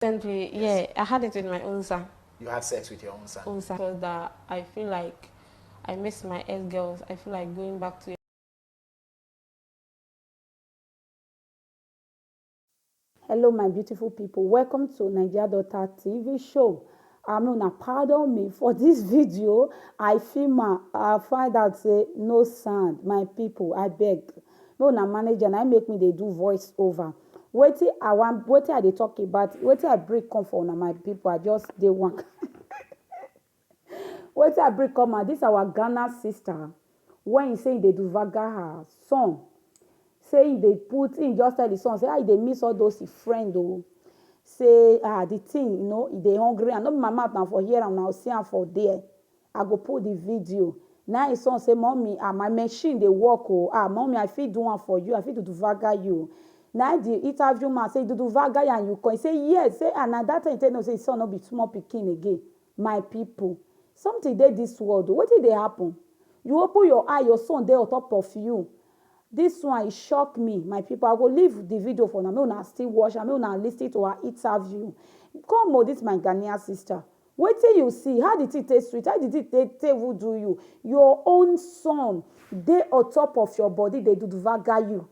Yes. Yeah, I had it with my own son. You had sex with your own son? Own son. Because that I feel like I miss my ex girls. I feel like going back to Hello, my beautiful people. Welcome to Nigeria Daughter TV show. I mean, now pardon me for this video. I feel my, I find out say no sound, my people. I beg. No na manager na im make me dey do voice over wetin I wan wetin I dey talk about wetin I bring come for una my people I just dey one kain wetin I bring come out this our Ghana sister wey he say he dey duvaga her son say he dey put he just tell the son say ah he dey miss all those him friend oo say ah the thing you know he dey hungry am no be my mouth na for hear am na see am for there. I go put the video. Na him son say mummy ah my machine dey work o ah mummy I fit do am for you I fit duduvaga you na him the interview man say duduvaga ya you come he say yes say ah na that time he take know say his son no be small pikin again my people something dey this world o wetin dey happen you open your eye your son dey ontop of you this one e shock me my people I go leave the video for una make una still watch am make una listen to her interview come o this my Ghanaian sister. Wetin you see, how the thing take sweet, how the thing take take even do you, your own sun dey on top of your body dey dudvaga you,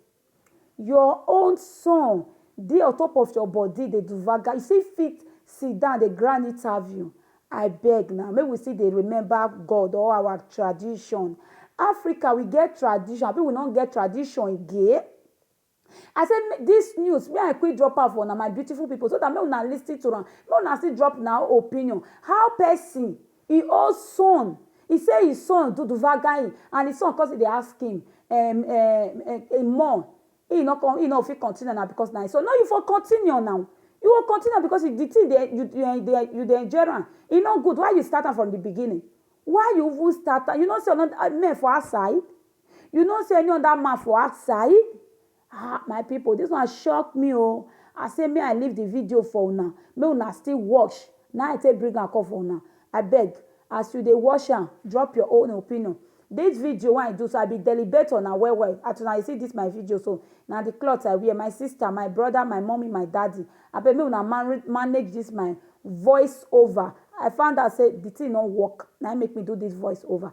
your own sun dey on top of your body dey dudvaga you, you still fit sit down dey grand interview, abeg na make we still dey remember God or our tradition, Africa we get tradition abi we no get tradition again? I say make this news make I quick drop am for una my beautiful people so that make una listen to am make una still drop una opinion how person e own son e say e son do duvaga him and e son come still dey ask him um um um more he no come he no fit continue na because na him son no you for continue now you go continue am because the thing dey you um dey you dey enjoy am e no good why you start am from the beginning why you even start am you no see another men for outside. You no see any other man for outside? Ah, my people, this one shock me oh. I say me I leave the video for una, make una still watch. Now I take bring am come for una. I beg, as you dey watch am, drop your own opinion. This video wey I do so, I be deliberate on am well well. As una see this my video so, na the cloth I wear. My sister, my brother, my mommy, my daddy. I beg make una man manage this my voice over. I found out say the thing no work. Now make me do this voice over.